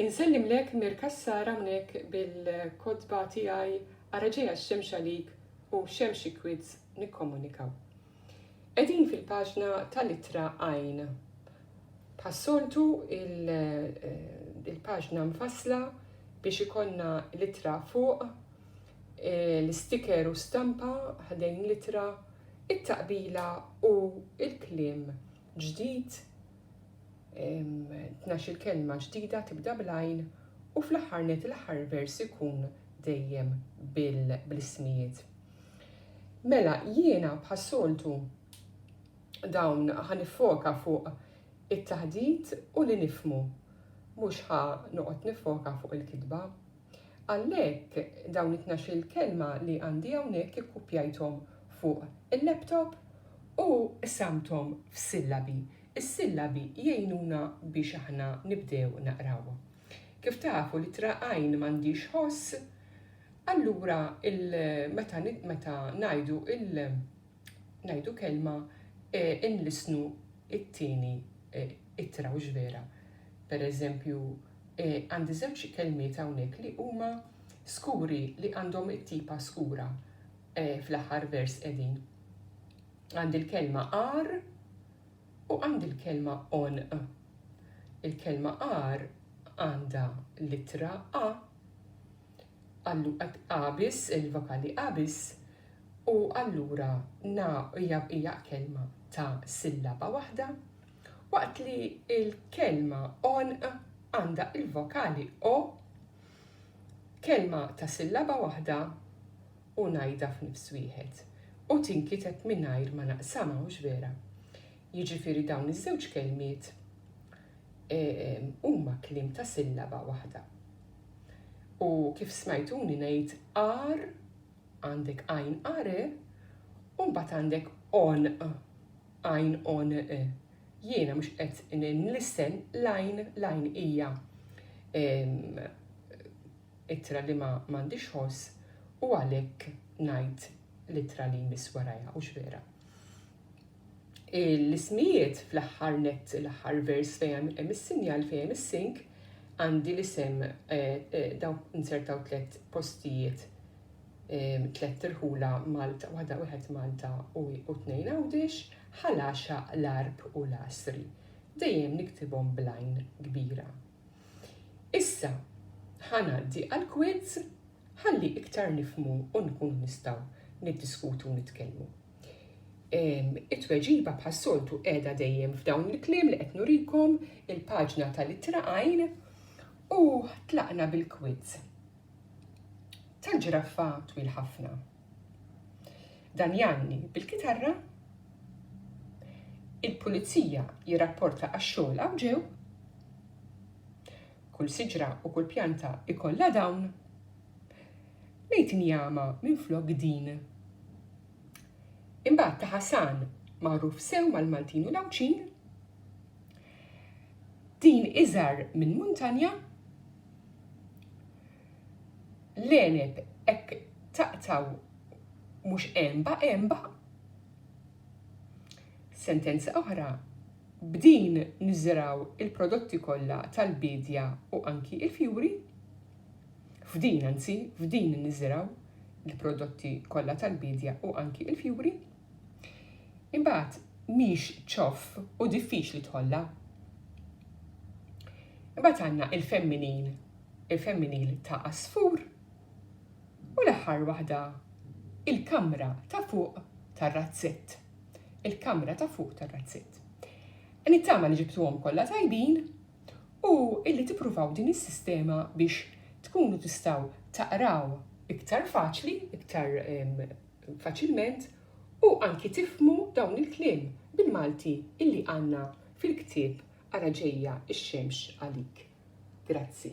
Insellimlek Mir Cassar hawnhekk bil-kotba tiegħi ara ġejja x-xemx għalik u xemxi kwids nikkomunikaw. Qegħdin fil-paġna tal-ittra għajn. Bħas-soltu il-paġna mfassla biex ikollna l-ittra fuq, e, l-istiker u stampa ħdejn l-ittra, it-taqbila u l-kliem ġdid, tnax-il kelma ġdida tibda bl-għajn u fl-aħħar nett l-aħħar vers ikun dejjem bl-ismijiet. Mela, jiena bħas-soltu dawn ħa nifoka fuq it-taħdit u li nifmu. Mhux ħa noqgħod nifoka fuq il-kitba Għalhekk dawn it-tnax-il kelma li għandi hawnhekk ikkupjajthom fuq il-laptop u qsamthom f'sillabi. Is-sillabi jgħinuna biex aħna nibdew naqraw. Kif tafu l-ittra għajn m'għandhiex ħoss, allura meta meta ngħidu il ngħidu kelma inlissnu t-tieni ittra hux vera? Pereżempju, Għandi żewġ kelmiet hawnhekk li huma skuri li għandhom it-tipa skura fl-aħħar vers qegħdin. Għandi l-kelma ar u għandi l-kelma on. Il-kelma ar għandha litra a għallu qabis il-vokali qabis u allura na hija kelma ta' sillaba waħda Waqt li l-kelma għonq għandha l-vokali o, kelma ta' sillaba waħda u ngħidha f'nifs wieħed, u tinkiteb mingħajr ma naqsamha, hux vera? Jiġifieri dawn iż-żewġ kelmiet huma kliem ta' sillaba waħda. U kif smajtuni ngħid ar, għandek għajn are, u mbagħad għandek onq. Għajn għon e. Jiena mhux qed nlissen l-għajn l-għajn hija ittra li ma m'għandhiex ħoss u għalhekk ngħid l-ittra li jmiss warajha hux vera. L-ismijiet fl-aħħar net l-aħħar vers fejn hemm is-sinjal fejn hemm is-sink għandi l-isem eh, eh, daw insertaw tliet postijiet tlett irħula Malta, waħda wieħed Malta u u tnejn Għawdix, Ħalaxa, l-Għarb u l-Għasri. Dejjem niktibhom bl-għajn kbira. Issa ħa ngħaddi għall-quiz ħalli iktar nifhmu u nkunu nistgħu niddiskutu u nitkellmu. Em, It-tweġiba bħas-soltu qiegħda dejjem f'dawn il-kliem li qed nurikom il-paġna tal-ittra għajn u tlaqna bil-quiz. tal-ġiraffa twil ħafna. Dan janni bil-kitarra il-pulizija jirrapporta għax-xogħol hawn ġew kull siġra u kull pjanta ikollha dawn. Lejt injama minn flok din. Imbagħad ta' Ħasan magħruf sew mal-Maltin u l-Għawdxin. Din iżar minn muntanja L-għeneb hekk taqtgħu mhux għenba għenba. Sentenza oħra, B'din niżrgħu l-prodotti kollha tal-biedja u anki l-fjuri. F'din anzi, f'din niżrgħu l-prodotti kollha tal-biedja u anki l-fjuri. Imbagħad mhix ċoff u diffiċli tħollha. Imbagħad għandna il-femminil, il-femminil ta' għasfur u l-aħħar waħda il-kamra ta' fuq tar-razzett. Il-kamra ta' fuq tar-razzett. Nittama li ġibtuhom kollha tajbin u illi tippruvaw din is-sistema biex tkunu tistgħu taqraw iktar faċli, iktar faċilment u anki tifhmu dawn il-kliem bil-Malti illi għandna fil-ktieb Ara Ġejja x-Xemx Għalik. Grazzi.